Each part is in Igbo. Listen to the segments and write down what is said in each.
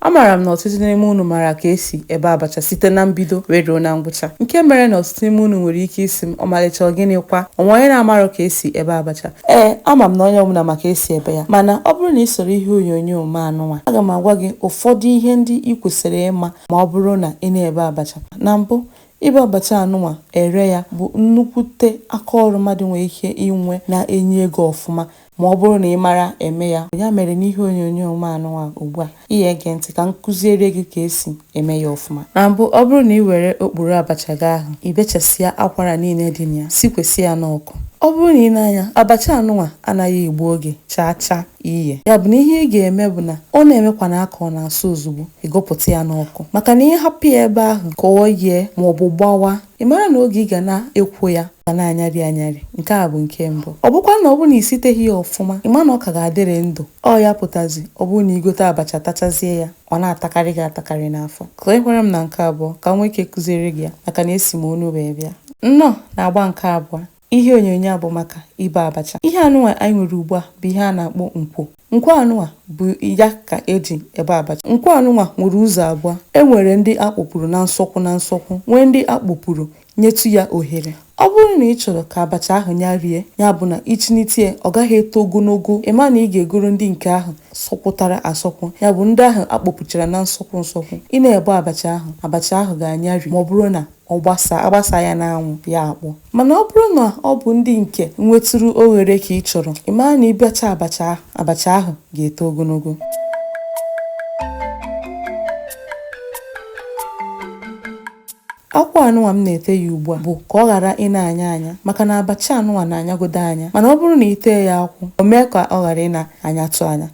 Amaara m na ọtụtụ n'ime unu maara ka e si ebe abacha site na mbido wee ruo na ngwụcha, nke mere na ọtụtụ n'ime unu nwere ike ịsị m, Ọmalịcha, ọ gịnị kwa? O nwere onye na-amarọ ka e si ebe abacha? Ee, ama m na onye ọbụla ma ka e si ebe ya. Mana, ọ bụrụ na ị soro ihe onyonyo m a nụnwa, aga m agwa gị ụfọdụ ihe ndị i kwesịrị ịma ma ọ bụrụ na ị na-ebe abacha. Na mbụ, ibe abacha a nụnwa, ere ya, bụ nnukwute aka ọrụ mmadụ nwere ike inwe na-enye ego ọfụma. Ma ọ bụrụ na ị mara eme ya, ya mere n'ihe onyonyo m anụnwa ugbu a, ị ya ege ntị ka m kụziere gị ka e si eme ya ọfụma. Na mbụ, ọ bụrụ na ị were ọkpụrụ abacha gị ahụ, ị bechasịa akwara niile dị na ya, sikwesị ya n'ọkụ. Ọ bụrụ na ị nee anya, abacha anụnwa anaghị egbu oge chaa chaa iye. Ya bụ na ihe ị ga-eme bụ na ọ na-emekwana ka ọ na-asụ ozugbo, ị gụpụta ya n'ọkụ. Maka na ị hapụ ya ebe ahụ ka ọ yee maọbụ gbawa, Ị mara na oge ị ga na-ekwo ya ga na-anyarị anyarị. Nke a bụ nke mbụ. Ọ bụkwa na ọ bụrụ na i siteghị ya ọfụma, ị ma na ọ ka ga-adịrị ndụ. Ọ ya pụtazi ọ bụrụ na i gote abacha tachazie ya, ọ na-atakarị gị atakarị n'afọ. Kwekwara m na nke abụọ ka m nwee ike kụziere gị ya maka na esi m ọnụ wee bịa. Nnọọ na agba nke abụọ. Ihe onyonyo a bụ maka ibe abacha. Ihe anụnwa anyị nwere ugbu a bụ ihe a na-akpọ nkwo. Nkwo anụnwa bụ ya ka e ji ebe abacha. Nkwo anụnwa nwere ụzọ abụọ. E nwere ndị a kpọpuru na nsọkwu na nsọkwu, nwee ndị a kpọpuru nyetụ ya ohere. Ọ bụrụ na ị chọrọ ka abacha ahụ nyarie, ya bụ na i chinite ya, ọ gaghị eto ogologo, ị ma na ị ga-egoro ndị nke ahụ sọkwụtara asọkwụ, ya bụ ndị ahụ a kpọpuchara na nsọkwu nsọkwu. Ị na-ebe abacha ahụ, abacha ahụ ga-anyari ma ọ bụrụ na a gbasaa ya n'anwụ, ya akpọọ. Mana ọ bụrụ na ọ bụ ndị nke nwetụrụ oghere ka ị chọrọ, ị mara na i bechaa, abacha ahụ ga-eto ogologo. Akwụ anụnwa m na-ete ya ugbu a bụ ka ọ ghara ị na-anya anya maka na abacha anụnwa na-anyagodo anya mana ọ bụrụ na i tee ya akwụ, o mee ka ọ ghara ị na-anyatụ anya.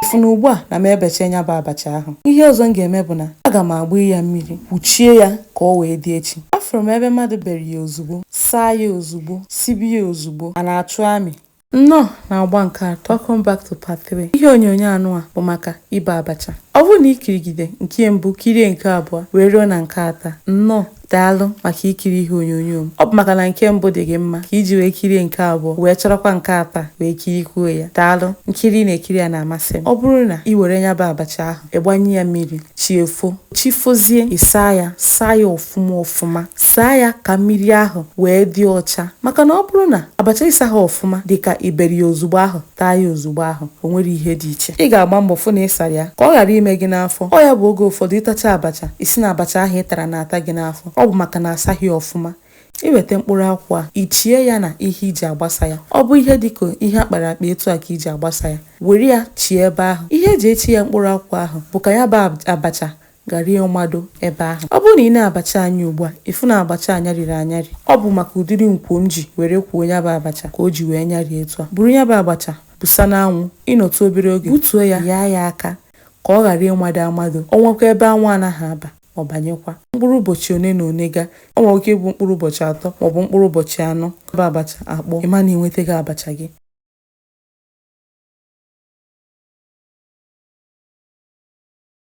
ị fụna ugbu a na m ebecha nya bụ abacha ahụ ihe ọzọ m ga-eme bụ na aga m agba ya mmiri kpuchie ya ka ọ wee dị echi afụrụ m ebe mmadụ bere ya ozugbo saa ya ozugbo sibe ya ozugbo a na-achụ amị nnọọ na agba nke atọ welcome back to part 3 ihe onyonyo anụnwa bụ maka ibe abacha ọ bụrụ na i kirigide nke mbụ kirie nke abụọ wee ruo na nke atọ nnọọ Daalụ maka ikiri ihe onyonyo m. Ọ bụ maka na nke mbụ dị gị mma ka i ji wee kirie nke abụọ wee chọrọkwa nke atọ a wee kirikwuo ya. Daalụ. Nkiri ị na-ekiri ya na-amasị m. Ọ bụrụ na i were nya bụ abacha ahụ, ị gbanye ya mmiri, chi efo. Chi fozie, ị saa ya, saa ya ọfụma ọfụma. Saa ya ka mmiri ahụ wee dị ọcha. Maka na ọ bụrụ na abacha ị saghị ọfụma dị ka i bere ya ozugbo ahụ, taa ya ozugbo ahụ o nwere ihe dị iche ị ga-agba mbọ fụ na ị sara ya ka ọ ghara ime gị n'afọ ọ ya bụ oge ụfọdụ ị tacha abacha ị sị na abacha ahụ ị tara na-ata gị n'afọ ọ bụ maka na asaghị ya ọfụma i weta mkpụrụ akwụ a i chie ya na ihe e ji agbasa ya ọ bụ ihe dịka ihe a kpara akpa etu a ka e ji agbasa ya were ya chie ebe ahụ ihe e ji echi ya mkpụrụ akwụ ahụ bụ ka ya bụ abacha ghara ịmado ebe ahụ. Ọ bụrụ na ị nee abacha anyị ugbu a, ị fụ na abacha a nyarịrị anyarị. Ọ bụ maka ụdịrị nkwo m ji were kwoo ya bụ abacha ka o ji wee nyarịa etu a. Buru ya bụ abacha busa n'anwụ, ị nọtụ obere oge, butuo ya, yaa ya aka ka ọ ghara ịmado amado. O nwekwa ebe anwụ anaghị aba, ọ banyekwa. Mkpụrụ ụbọchị one na one gaa, o nwere ike ịbụ mkpụrụ ụbọchị atọ maọbụ mkpụrụ ụbọchị anọ, ya bụ abacha akpọọ, ị ma na ị nwetego abacha gị.